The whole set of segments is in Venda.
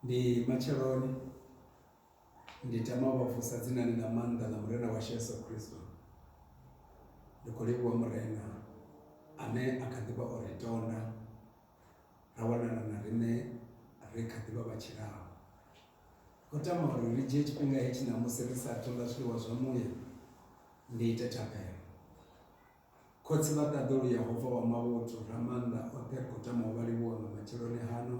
Ndi matsheloni ndi tama u vha vusa dzinani ḽa maanḓa ḽa Murena washu Yesu Kristo. Ndi khou livhuwa Murena ane a kha ḓivha o ri tonda ra wanala na riṋe ri kha ḓivha vha tshilaho. Ndi khou tama uri ri dzhie tshifhinga hetshi ṋamusi ri sa athu ḽa zwiḽiwa zwa muya ndi ite thabelo. Khotsi vha ṱaḓulu Yehova wa mavhuthu, Ramaanḓa oṱhe, ri khou tama u vha livhuwa nga matsheloni hano.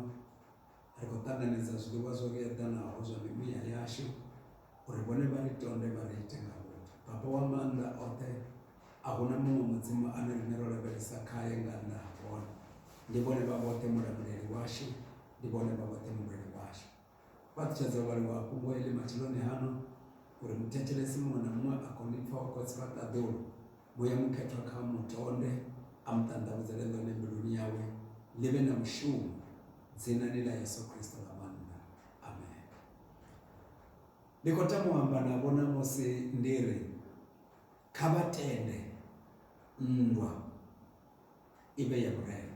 Ri khou ṱanganedza zwiḽiwa zwo ri eḓanaho zwa mimuya yashu uri vhone vha ri tonde vha ri ite nga vhuthu. Baba wa maanḓa oṱhe, a hu na muṅwe mudzimu ane riṋe ro lavhelesa khae nga nnḓa ha vhone. Ndi vhone vha vhoṱhe Mulamuleli washu, ndi vhone vha vhoṱhe Mulweli washu. Fhaṱutshedza u vhaliwa ha fhungo eḽi matsheloni hano uri muthetshelesi muṅwe na muṅwe a kone u pfa wa Khotsi vha ṱaḓulu. Muya Mukhethwa kha a mu tonde a mu ṱanḓavhudzele ḽone mbiluni yawe, ḽi vhe na mushumo. Dzinani ḽa Yesu Kristo ḽa maanḓa. Amen. Ndi khou tama u amba navho ṋamusi ndi ri, kha vha tende nndwa i vhe ya vhurema.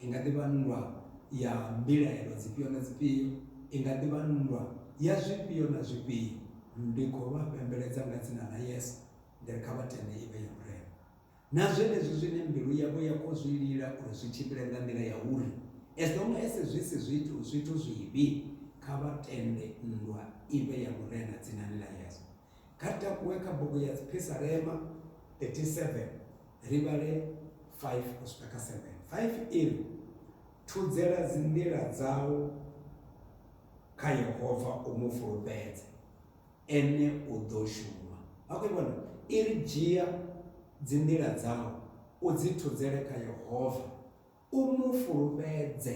I nga ḓi vha nndwa ya mbilaelo dzifhio na dzifhio, i nga ḓi vha nndwa ya zwifhio na zwifhio, ndi khou vha fhembeledza nga Dzina ḽa Yesu, ndi ri kha vha tende i vhe ya Murena. Na zwenezwi zwine mbilu yavho ya khou zwi lila uri zwi tshimbile nga nḓila ya uri, as long as zwi si zwithu zwithu zwivhi, kha vha tende nndwa i vhe ya Murena, Dzinani ḽa Yesu. Kha ri takuwe kha bugu ya Dziphisarema 37 ri vhale 5 u swika kha 7. 5 iri, Thudzela dzinḓila dzau kha Yehova u mu fulufhedze, ene u ḓo shuma. Vha khou vhona i ri dzhia dzinḓila dzau u dzi thudzele kha Yehova u mu fulufhedze,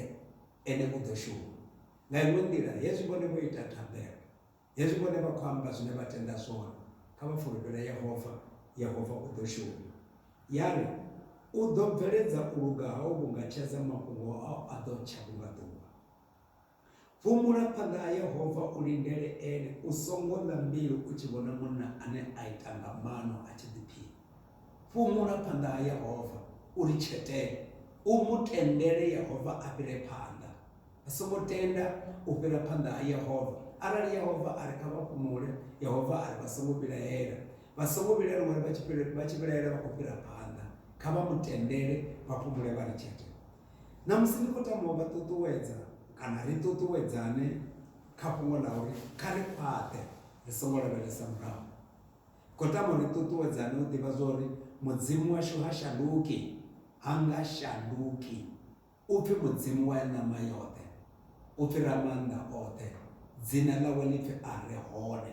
ene u ḓo shuma. Nga iṅwe nḓila, hezwi vhone vho ita thabelo. Hezwi vhone vha khou amba zwine vha tenda zwone, kha vha fulufhele Yehova, Yehova u ḓo shuma. Ya ri, U ḓo bveledza u luga hau vhunga tshedza, mafhungo au a ḓo tsha vhunga ḓuvha. Fhumula phanḓa ha Yehova, u lindele ene, u songo ḽa mbilu u tshi vhona munna ane a ita nga maano a tshi ḓiphina. Fhumula phanḓa ha Yehova, u litshetele, u mu tendele Yehova a fhire phanḓa. A songo tenda u fhira phanḓa ha Yehova. Arali Yehova a ri kha vha fhumule, Yehova a ri vha songo vhilaela. Vha songo vhilaelwa uri vha tshi vha tshi vhilaela vha khou fhira phanḓa. Kha vha mu tendele vha fhumule vha ri tshete. Ṋamusi ndi khou tama u vha ṱuṱuwedza kana ri ṱuṱuwedzane kha fhungo ḽa uri kha ri khwaṱhe ri songo lavhelesa murahu. Ndi khou tama uri ri ṱuṱuwedzane u ḓivha zwa uri Mudzimu washu ha shanduki, ha nga shanduki. U pfi Mudzimu wa ṋama yoṱhe, u pfi Ramaanḓa oṱhe, dzina ḽawe ḽi pfi A Re Hone.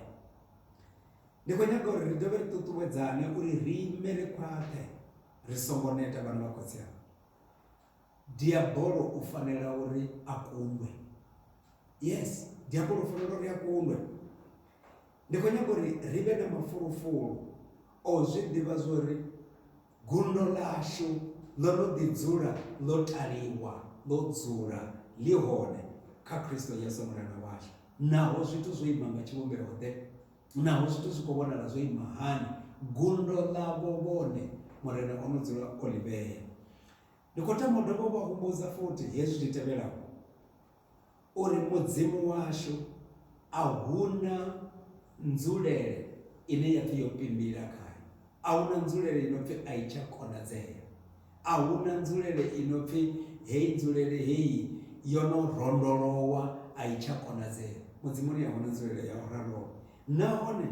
Ndi khou nyaga uri ri dovhe ri ṱuṱuwedzane uri ri ime ri khwaṱhe ri songo neta vhana vha khotsi anga. Diabolo u fanela uri a kundwe. Yes, diabolo u fanela uri a kundwe. Ndi khou nyaga uri ri vhe na mafulufulu o zwi ḓivha zwori Gundo ḽashu ḽo no ḓi dzula ḽo taliwa ḽo dzula ḽi hone kha Kristo Yesu Mulanda washu. Naho zwithu zwo ima nga tshivhumbeo-ḓe, naho zwithu zwi khou vhonala zwo ima hani, gundo ḽavho vhone Murena o no dzula o ḽi vhea. Ndi khou tama u dovha u vha humbudza futhi hezwi zwi tevhelaho, uri Mudzimu washu a huna nzulele ine ya pfi yo pimbila khae. A huna nzulele ino pfi a i tsha konadzea. A huna nzulele ino pfi heyi nzulele heyi yo no rondolowa a i tsha konadzea. Mudzimuni a huna nzulele ya u raloho. Nahone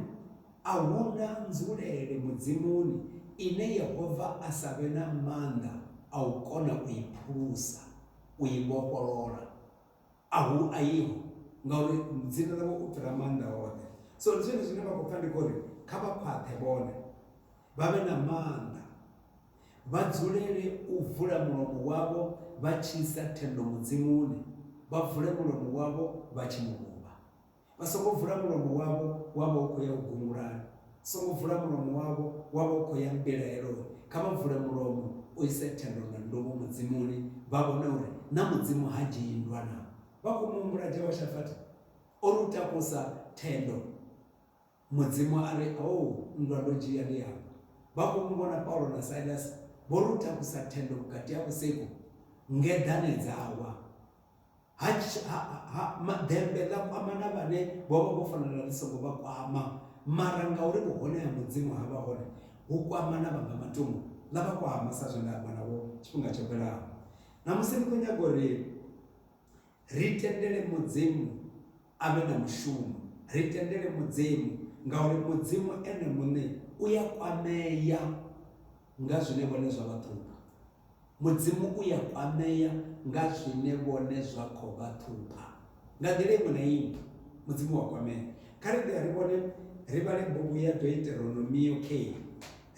a huna nzulele Mudzimuni ine Yehova a sa vhe na maanḓa a u kona u i phulusa. u i vhofholola. A hu aiho, ngauri dzina ḽawe u fhira maanḓa oṱhe. So ndi zwone zwine vha khou pfa ndi khou ri kha vha khwaṱhe vhone, vha vhe na maanḓa, vha dzulele u vula mulomo wavho vha tshi isa thendo Mudzimuni, vha vule mulomo wavho vha tshi mu luvha. Vha songo vula mulomo wavho wa vha u khou ya u gungulani, songo vula mulomo wavho wa vha u khou ya mbilaeloni. Kha vha vule mulomo u ise thendo na nduvho Mudzimuni, vha vhone uri na Mudzimu ha dzhii nndwa navho. Vha khou mu humbula Jehoshafati o ri u takusa thendo. Mudzimu a ri, Hoo, nndwa ndo dzhia ndi afha. Vha khou mu vhona Paulo na Silasi vho ruthakusa thendo vhukati ha vhusiku, ngeḓane dza wa. Ha, ha, ha, ma, ḓembe ḽa kwamana vhane vho vha vho fanela ḽi songo vha kwama, mara ngauri vhuhone ha Mudzimu ha vha hone, hu kwamana vha nga matungo, ḽa vha kwama, sa zwe nda amba navho tshifhinga tsho fhelaho. Ṋamusi ndi khou nyaga uri Ri tendele Mudzimu a vhe na mushumo. Ri tendele Mudzimu ngauri Mudzimu Ene muṋe u ya kwamea nga zwine vhone zwa vha ṱhupha. Mudzimu u ya kwamea nga zwine vhone zwa khou vha ṱhupha. Nga nḓila iṅwe na iṅwe, Mudzimu u a kwamea. Kha ri ḓe ri vhone, ri vhale bugu ya Deuteronomio kheyi.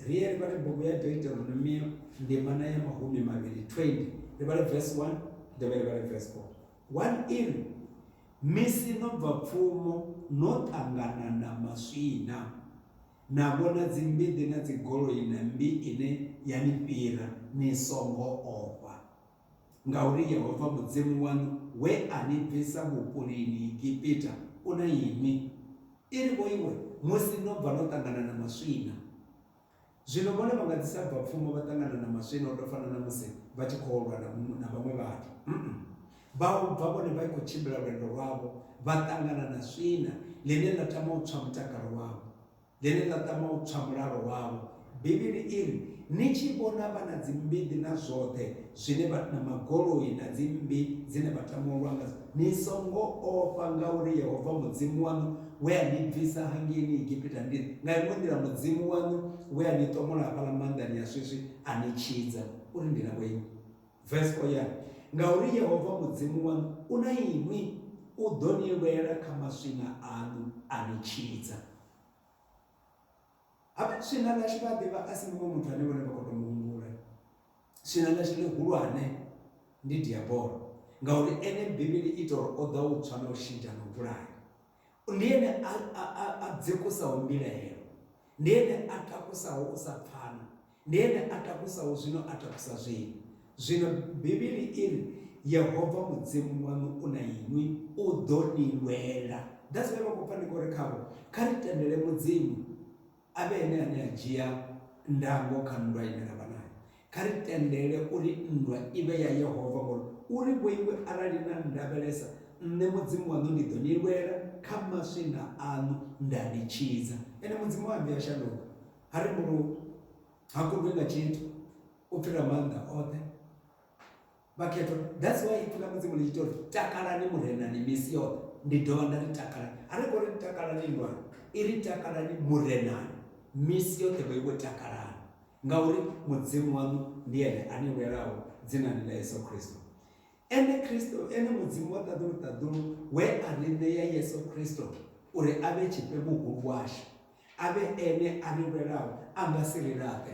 ri ye ri vhale bugu ya deuteronomio ndimana ya mahumi mavhili 20 ri vhale vesi 1 dovhe ri vhale vesi 4 1 iri misi no bva pfumo no ṱangana na maswina na vhona dzimbiḓi na dzigoloi na mmbi ine ya ni fhira ni songo ofha Ngauri Yehova Mudzimu waṋu we a ni bvisa vhupulini Egipita u na inwi. I ri vho iwe musi no bva no ṱangana na maswina. Zwino vhone vha nga ḓi sa bva pfumo vha ṱangana na maswina u tou fana na musi vha tshi khou lwa na na vhaṅwe vhathu. Vha u bva vhone vha i khou tshimbila lwendo lwavho vha ṱangana na swina ḽine ḽa tama u tswa mutakalo wavho. ḽine ḽa tama u tswa mulalo wavho. Bivhili i ri, Ni tshi vhona vha na dzimbiḓi na zwoṱhe zwine vha, na magoloi na dzimmbi dzine vha tama u lwa ngadzo, ni songo ofha, ngauri Yehova Mudzimu waṋu we a ni bvisa hangeini Egipita ndi nga iṅwe nḓila Mudzimu waṋu we a ni ṱomola hafhaḽa maanḓani a swiswi a ni tshidza uri ndi na vhoinwi. Vesi 4 ya ri, Ngauri Yehova Mudzimu waṋu u na inwi, u ḓo ni lwela kha maswina aṋu a ni tshidza. Habe swina ḽashu vha a ḓivha a si muṅwe muthu ane vhone vha khou tou mu humbula. Swina ḽashu ḽihulwane ndi Diabolo, ngauri ene Bivhili i tou ri o ḓa u tswa na u shidzha na u vhulaya. Ndi ene a, a, a, a dzekusaho mbilaelo, ndi ene a takusaho u sa pfana, ndi ene a takusaho zwino a takusa zwino. Zwino Bivhili i ri, Yehova Mudzimu waṋu u na inwi, u ḓo ni lwela. That's why vha khou pfa ndi khou ri khavho, kha ri tendele Mudzimu a vhe ene ane a dzhia ndango kha nndwa ine ra vha nayo. Kha ri tendele uri nndwa i vhe ya Yehova ngori u ri vhoiwe, Arali na nndavhelesa, nṋe Mudzimu waṋu ndi ḓo ni lwela kha maswina aṋu nda ni tshidza. Ene Mudzimu ha vhuyi a shanduka, ha rembuluwi, ha kundwi nga tshithu, u fhira maanḓa oṱhe. Vhakhethwa, that's why ipfi ḽa Mudzimu ḽi tshi tori takalani Murenani misi yoṱhe, ndi dovha nda ri takalani. Ha ri ngo ri takalani nndwani, i ri takalani Murenani misi yoṱhe vhoiwe takalani, ngauri Mudzimu waṋu ndi ene a ni lwelaho dzinani ḽa Yesu Kristo. Ene Kristo, ene Mudzimu wa ṱaḓulu ṱaḓulu we a ri ṋea Yesu Kristo uri a vhe tshifhe muhulu washu, a vhe ene a ri lwelaho a nga si ri laṱe.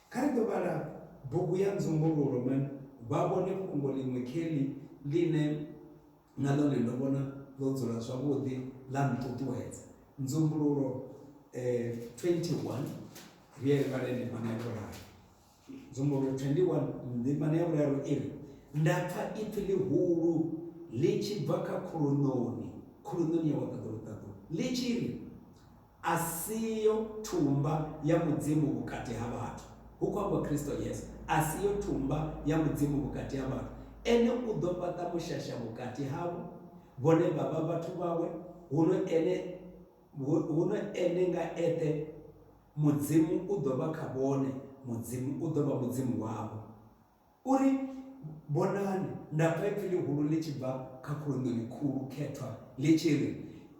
Kha ri ḓo vhala bugu ya Nzumbululo na vha vhone fhungo ḽiṅwe Kelly ḽine na ḽone ndo vhona ḽo dzula zwavhuḓi ḽa nṱuṱuwedza. Nzumbululo 21, ri ye ri vhale ndimana ya vhuraru. Nzumbululo 21 ndimana ya vhuraru i ri, Nda pfa ipfi ḽihulu ḽi tshi bva kha khuluṋoni, khuluṋoni ya wa ṱaḓulu ṱaḓulu, ḽi tshi ri, A siyo thumba ya Mudzimu vhukati ha vhathu, hu khou amba Kristo Yesu. A siyo thumba ya Mudzimu vhukati ha vhathu. Ene u ḓo fhaṱa mushasha vhukati havho, vhone vha vha vhathu vhawe, huno ene, huno ene nga eṱhe Mudzimu u ḓo vha kha vhone, Mudzimu u ḓo vha Mudzimu wavho. U ri, Vhonani, nda pfa ipfi ḽihulu ḽi tshi bva kha khuluṋoni khulu khethwa ḽi tshi ri,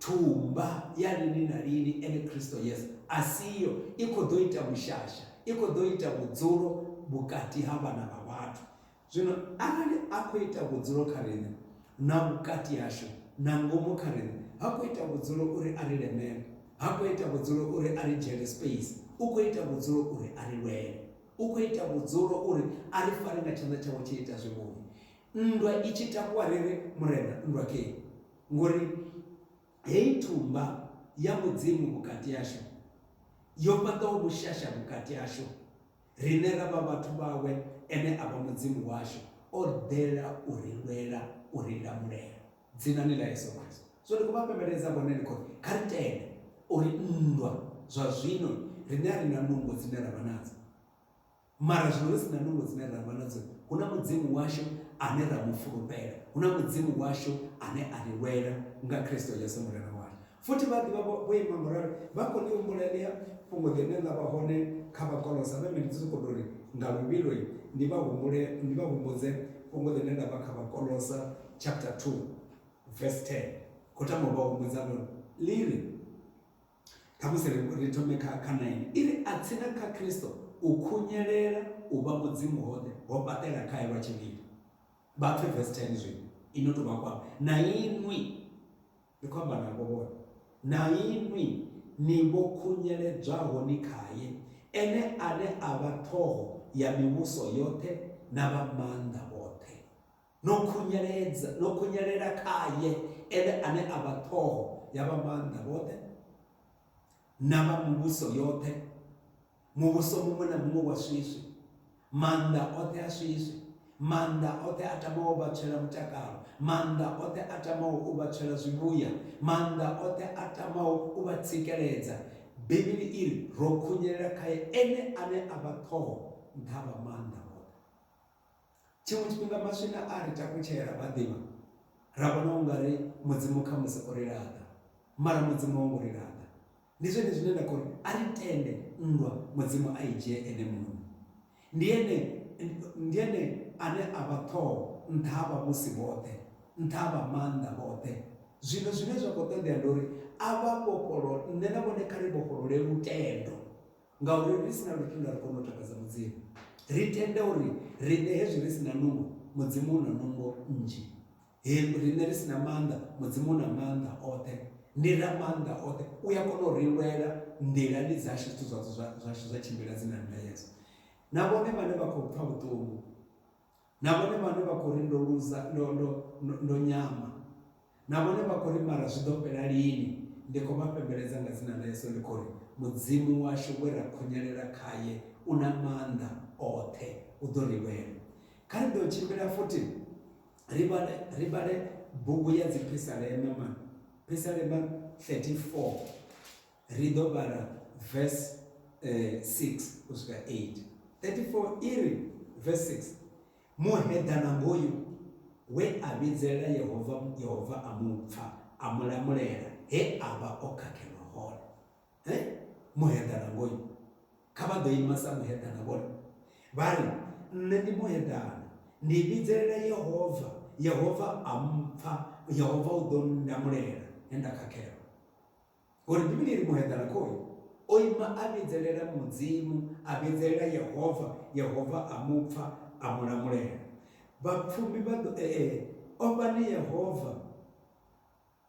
Thuba ya lini na lini, ene Kristo Yesu a siho, i khou ḓo ita vhushasha, i khou ḓo ita vhudzulo vhukati ha vhana vha vhathu. Zwino arali a khou ita vhudzulo kha riṋe, na vhukati hashu, na ngomu kha riṋe, ha khou ita vhudzulo uri a ri lemele, ha khou ita vhudzulo uri a ri dzhiele space, u khou ita vhudzulo uri a ri lwele. U khou ita vhudzulo uri a ri fare nga tshanḓa tshawe tshi ita zwivhungu, nndwa i tshi takuwa ri ri, Murena, nndwa kee! Ngori heyi thumba ya Mudzimu vhukati hashu yo fhaṱaho vhushasha vhukati hashu, riṋe ra vha vhathu vhawe, ene a vha Mudzimu washu, o ḓela u ri lwela, u ri lamulela. Dzinani ḽa Yesu Kristo, zwino ndi khou vha fhembeledza vhone, ndi khou ri, Kha ri tende uri nndwa zwa zwino riṋe a ri na nungo dzine ra vha nadzo. Mara zwino ri si na nungo dzine ra vha nadzo, hu na Mudzimu washu ane ra mu fulufhela, hu na Mudzimu washu ane a ri lwela nga Kristo Yesu Murena washu. Futhi vha ḓivha vho, vho ima ngauralo, vha khou ḽi humbula heḽia fhungo ḽine ḽa vha hone kha Vhakolosa. Vhe mini? Ndi sokou tou ri, nga luvhilo, ni vha humbule, ni vha humbudze fhungo ḽine ḽa vha kha Vhakolosa chapter 2 verse 10. Khou tama u vha humbudza ḽone. Ḽi ri, Khamusi ri, ri thome kha, kha 9. I ri, A tsini kha Kristo u khunyelela u vha Mudzimu hoṱhe ho fhaṱela khae lwa tshivhindi. Vha pfe verse 10 zwino, i no tou vha kwama na inwi. Ndi khou amba navho vhone, na inwi ni vho khunyeledzwaho ni khae, ene ane a vha ṱhoho ya mivhuso yoṱhe na vha maanḓa vhoṱhe. No khunyeledza, no khunyelela khae, ene ane a vha ṱhoho ya vha maanḓa vhoṱhe na vha mivhuso yoṱhe. muvhuso muṅwe na muṅwe wa swiswi maanḓa oṱhe a swiswi maanḓa oṱhe a tamaho u vhatshela mutakalo maanḓa oṱhe a tamaho u vhatshela zwivhuya maanḓa oṱhe a tamaho u vha tsikeledza bivhili i ri ro khunyelela khaye ene ane a vha ṱhoho nṱha vha maanḓa oṱhe Tshiṅwe tshifhinga maswina a ri takutshela vha ḓivha, ra vhona u nga ri Mudzimu khamusi o ri laṱa. Mara Mudzimu ho ngo ri laṱa. Ndi zwone zwine nda khou ri, a ri tende nndwa Mudzimu a i dzhie ene muṋe. Ndi ene, ndi ene ane a vha Ṱhoho nṱha ha vhavhusi vhoṱhe, nṱha ha vha maanḓa vhoṱhe. Zwino zwine zwa khou ṱoḓea ndi uri a vha vhofholo, nṋe na vhone kha ri vhofholole lutendo. Ngauri ri si na lutendo a ri koni u takadza Mudzimu. Ri tenda uri riṋe hezwi ri si na nungo, Mudzimu u na nungo nnzhi. He riṋe ri si na maanḓa, Mudzimu u na maanḓa oṱhe. Ndi Ramaanḓa oṱhe, u a kona u ri lwela nḓilani dzashu, zwithu zwatsho zwashu zwa tshimbila dzi na ndayedzo. Na vhone vhane vha khou pfa vhuṱungu, Na vhone vhane vha khou ri ndo luza, ndo, ndo, ndo, ndo nyama. Na vhone vha khou ri mara zwi ḓo fhela lini? Ndi khou vha fhembeledza nga dzina ḽa Yesu, ndi khou ri, Mudzimu washu we ra khunyelela khae u na maanḓa oṱhe, u ḓo ri lwela. Kha ri ḓo tshimbila futhi ri vhale, ri vhale bugu ya Dziphisalema, man, Phisalema 34. Ri ḓo vhala vese 6 u swika 8. 34 i ri, vese 6, Muheḓana ngoyu we a vhidzela Yehova, Yehova a mu pfa, a mu lamulela he a vha o khakhelwa hone. He, muheḓana ngoyu! Kha vha ḓo ima sa muheḓana vhone vha ri, Nṋe ndi muheḓana, ndi vhidzelela Yehova, Yehova a mpfa, Yehova u ḓo ndamulela he nda khakhelwa. Ngori Bivhili i ri muheḓana khoi o ima a vhidzelela Mudzimu, a vhidzelela Yehova, Yehova a mu pfa a mu lamulela. Vhapfumi vha ḓo e-e, ofhani Yehova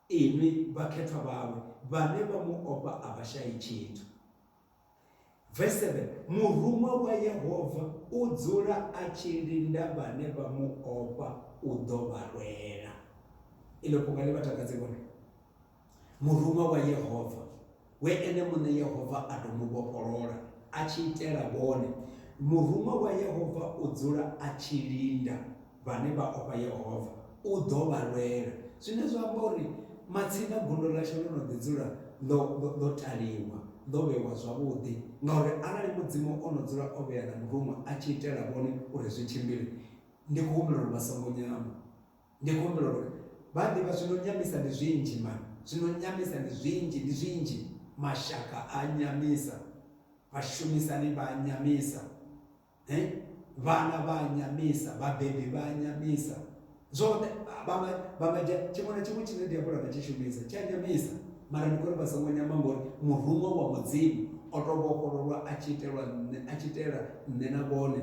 inwi vhakhethwa vhawe, vhane vha mu ofha a vha shayi tshithu. Verse 7 Muruṅwa wa Yehova u dzula a tshi linda vhane vha mu ofha u ḓo vha lwela. Iḽo fhunga ḽi vha takadze vhone. Muruṅwa wa Yehova we ene muṋe Yehova a tou mu vhofholola a tshi itela vhone. Muruṅwa wa Yehova u dzula a tshi linda Vhane vha ofha Yehova u ḓo vha lwela. Zwine zwa amba uri matsina gondo ḽashu ḽo no ḓi dzula ḽo, ḽo, ḽo taliwa, ḽo vhewa zwavhuḓi. Ngauri arali Mudzimu o no dzula o vhea na muruṅwa a tshi itela vhone uri zwi tshimbile, ndi khou humbela uri vha songo nyama. Ndi khou humbela uri vha a ḓivha zwi no nyamisa ndi zwinzhi mani. Zwi no nyamisa ndi zwinzhi, ndi zwinzhi. Mashaka a a nyamisa. Vhashumisani vha a nyamisa. eh vhana vha a nyamisa vhabebi vha a nyamisa zwoṱhe vhanga vhanga dzhia tshiṅwe na tshiṅwe tshine diabola nga tshi shumisa tshi a nyamisa mara ndi kori vha songo nyama ngori muruṅwa wa mudzimu o tou vhofhololwa a tshi itelwa nṋe a tshi itela nṋe na vhone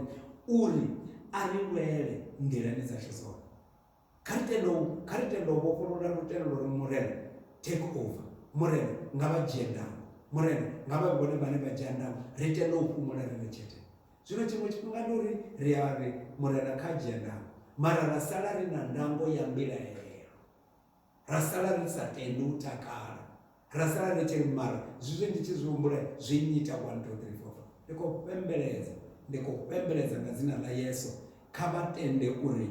uri a ri lwele nḓilani dzashu dzoṱhe Kha ri tende u, kha ri tende u vhofholola lutendo lwa uri, Murena, take over. Murena, nga vha dzhie ndango. Murena, nga vha vhe vhone vhane vha dzhia ndango. Ri tende u fhumula ri ḽe tshete. Zwino tshiṅwe tshifhinga ndi uri ri a ri, Murena kha a dzhie ndango. Mara ra sala ri na ndango ya mbilaelo. ra sala ri sa tende u takala ra sala ri tshi ri mara zwizwi ndi tshi zwi humbula zwi nnyita 1 2 3 4 ndi khou fhembeledza ndi khou fhembeledza nga dzina ḽa yesu kha vha tende uri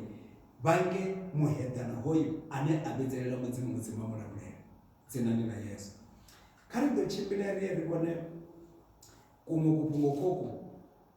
vha nge muheḓana hoyu ane a vhidzelela mudzimu mudzimu a mulamulela dzinani ḽa yesu kha ri ḓo tshimbila ri ye ri vhone kuṅwe kufhungo khoku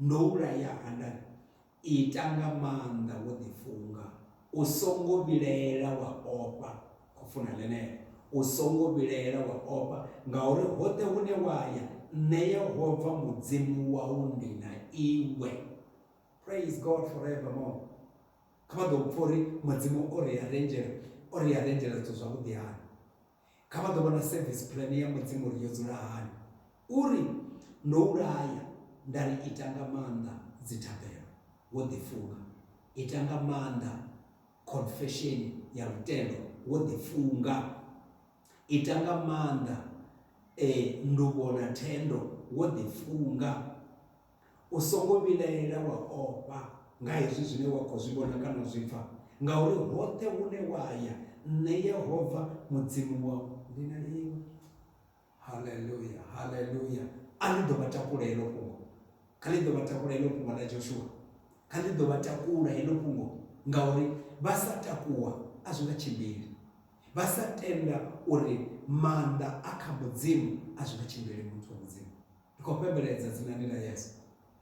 Ndo u laya ha nda ri, Ita nga maanḓa wo ḓifunga, u songo vhilaela wa ofha. Khou funa ḽeneḽo, U songo vhilaela wa ofha, ngauri hoṱhe hune wa ya, Nṋe Yehova Mudzimu wau ndi na iwe. Praise God forevermore. Kha vha ḓo pfa uri Mudzimu o ri arrangela, o ri arrangela zwithu zwavhuḓi hani. Kha vha ḓo vhona service plan ya Mudzimu uri yo dzula hani. U ri, Ndo u laya, nda ri, Ita nga maanḓa dzithabelo, wo ḓifunga. Ita nga maanḓa khonfesheni ya lutendo, wo ḓifunga. Ita nga maanḓa e, nduvho na thendo, wo ḓifunga. U songo vhilaela wa ofha nga hezwi zwine wa khou zwi vhona kana u zwi pfa, ngauri hoṱhe hune wa ya, Nṋe Yehova Mudzimu wau ndi na iwe. Haleluya! Haleluya! A ḽi ḓo vha takula heḽo fhungo. Kha ḽi ḓo vha takula heḽo fhungo ḽa Joshua. Kha ḽi ḓo vha takula heḽo fhungo, ngauri vha sa takuwa a zwi nga tshimbili. Vha sa tenda uri maanḓa a kha Mudzimu a zwi nga tshimbili, muthu wa Mudzimu. ri khou fhembeledza dzinani ḽa Yesu.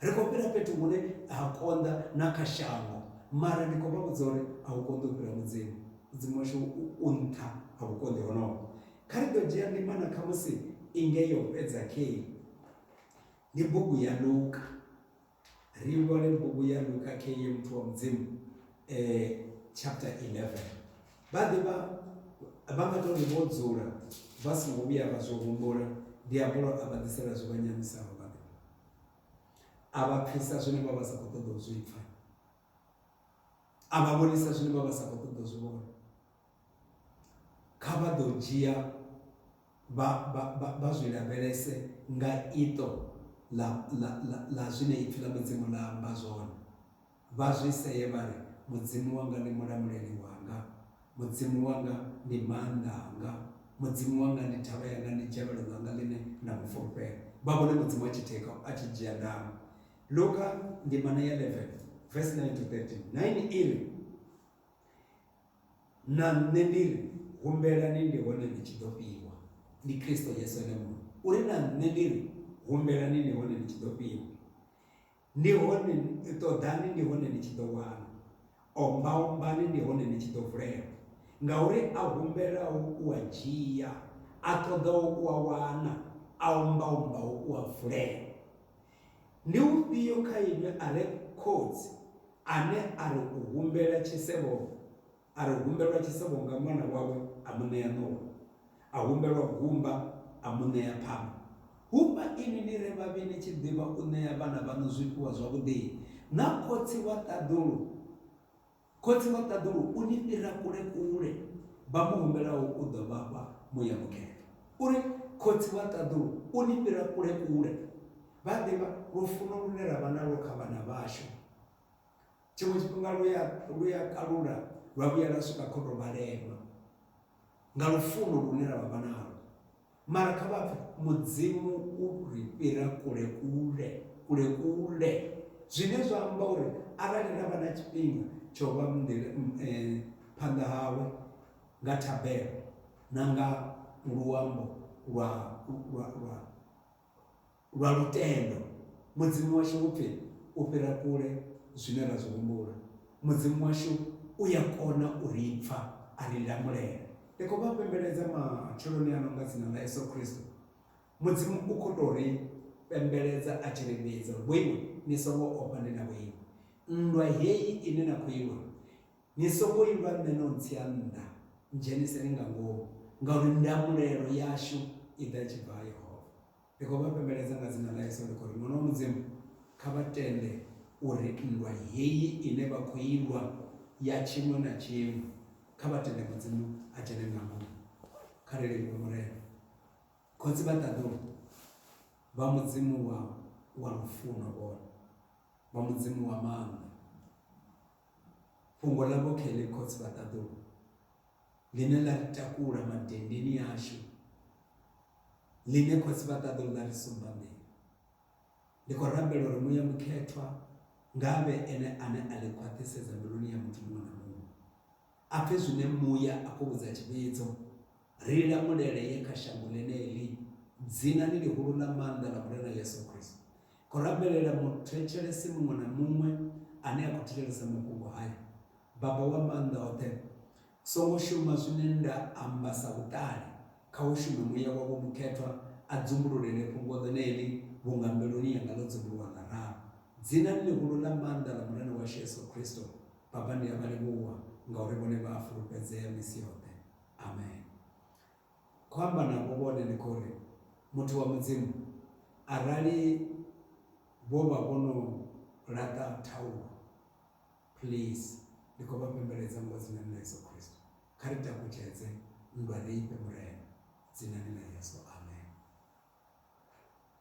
Ri khou fhira fhethu hune ha konḓa na kha shango, mara ndi khou vha vhudza uri a hu konḓi u fhira Mudzimu. Mudzimu washu u nṱha ha vhukonḓi honoho. Kha ri ḓo dzhia ndimana khamusi i nge yo fhedza khei, ndi bugu ya Luka. Ri vhone bugu ya Luka khei muthu wa Mudzimu eh, chapter 11. Vha ḓivha vha nga tori vho dzula vha songo vhuya vha zwi humbula diabolo a vha ḓisela zwi vha nyamisaho vha ḓivha a vha pfisa zwine vha vha sa khou ṱoḓa u zwi pfa a vha vhonisa zwine vha vha sa khou ṱoḓa u zwi vhona Kha vha ḓo dzhia vha zwi lavhelese nga iṱo ḽa zwine Ipfi ḽa Mudzimu ḽa amba zwone, vha zwi see vha ri, Mudzimu wanga ndi mulamuleli wanga, Mudzimu wanga ndi maanḓa anga, Mudzimu wanga ndi thavha yanga, ndi dzhavhelo ḽanga ḽine nda mu fulufhela. Vha vhone Mudzimu a tshi thekha, a tshi dzhia ndango. Luka ndimana ya 11 vesi 9 to 13, 9 i ri, Na nṋe ndi ri, Humbelani ndi hone ni tshi ḓo fhiwa. Ndi Kristo Yesu ene muṋe. U ri, Na nṋe ndi ri, Humbelani ndi hone ni tshi ḓo fhiwa. Ndi hone, ṱoḓani ndi hone ni tshi ḓo wana. Omba-ombani ndi hone ni tshi ḓo vulelwa. Ngauri a humbelaho u a dzhia, a ṱoḓaho u a wana, a omba-ombaho u a vulelwa. Ndi ufhio kha inwi a re khotsi ane a ri u humbela tshisevho, a ri humbelwa tshisevho nga ṅwana wawe a mu ṋea ṋowa, a humbelwa gumba a mu ṋea phanga? Hu vha inwi ni re vhavhi ni tshi ḓivha u ṋea vhana vhaṋu zwifhiwa zwavhuḓi-i, na Khotsi wa ṱaḓulu, Khotsi wa ṱaḓulu u ni fhira kule kule, vha mu humbelaho u ḓo vha fha muya mukene. U ri, Khotsi wa ṱaḓulu u ni fhira kule kule, vha ḓivha lufuno lune ra vha nalwo kha vhana vhashu. Tshiṅwe tshifhinga lu ya, lu ya kalula lwa vhuya lwa swika kha u tou vha lema. Nga lufuno lune ra vha vha nalwo. Mara kha vha pfe, Mudzimu u ri fhira kule-kule, kule-kule. Zwine zwa amba uri arali ra vha na tshifhinga tsha u vha phanḓa hawe nga thabelo na nga luambo lwa, lwa, lwa, Lwa lutendo, Mudzimu washu u pfi u fhira kule zwine ra zwi humbula. Mudzimu washu u ya kona u ri pfa, a ri lamulela. Ndi khou vha fhembeledza matsheloni ano nga dzina ḽa Yesu Kristo. Mudzimu u khou tou ri fhembeledza a tshi ri vhidza uri, Vhoiwe, ni songo ofha, ndi na vhoinwi. Nndwa heyi ine na khou i lwa, ni songo i lwa nṋe no ntsia nnḓa, ndzheniseni nga ngomu, ngauri ndamulelo yashu i ḓa i tshi bva ha Yehova. Ndi khou vha fhembeledza nga dzina ḽa Yesu ndi khou ri, Ṅwana wa Mudzimu, kha vha tende uri nndwa heyi ine vha khou i lwa ya tshiimo na tshiimo, kha vha tende Mudzimu a dzhene nga ngomu. Kha ri livhuwe Murena. Khotsi vha ṱaḓulu vha Mudzimu wa, wa lufuno, vhone. Vha Mudzimu wa maanḓa. Fhungo ḽavho Kelly, Khotsi vha ṱaḓulu, ḽine ḽa ri takula madenndeni ashu ḽine khotsi vha ṱaḓo ḽa ri sumbamela ndi khou rabela uri muya mukhethwa nga vhe ene ane a ḽi khwaṱhisedza mbiluni ya muthu muṅwe na muṅwe a pfe zwine muya a khou vhudza tshivhidzo ri lamulele ye kha shango ḽeneḽi dzinani ḽihulu ḽa maanḓa ḽa murena yesu kristo khou rabelela muthetshelesi muṅwe na muṅwe ane a khou thetshelesa mafhungo haya. Baba wa Maanḓa oṱhe, songo shuma zwine nda amba sa vhuṱali, kha hu shume Muya wa Vho Mukhethwa a dzumbululele fhungo ḽeneḽi vhunga mbiluni yanga ḽo dzumbuluwa nga ralo. Dzinani ḽihulu ḽa maanḓa ḽa Murena washu Yesu Kristo, Baba ndi a vha livhuwa ngauri vhone vha a fulufhedzea misi yoṱhe. Amen. khou amba navho vhone ndi khou ri, Muthu wa Mudzimu, arali vho vha vho no laṱa thaulo, please ndi khou vha pembeledza ngo Dzinani ḽa Yesu Kristo, kha ri takutshedze nndwa ri i fhe Murena, Dzinani ḽa Yesu. Amen.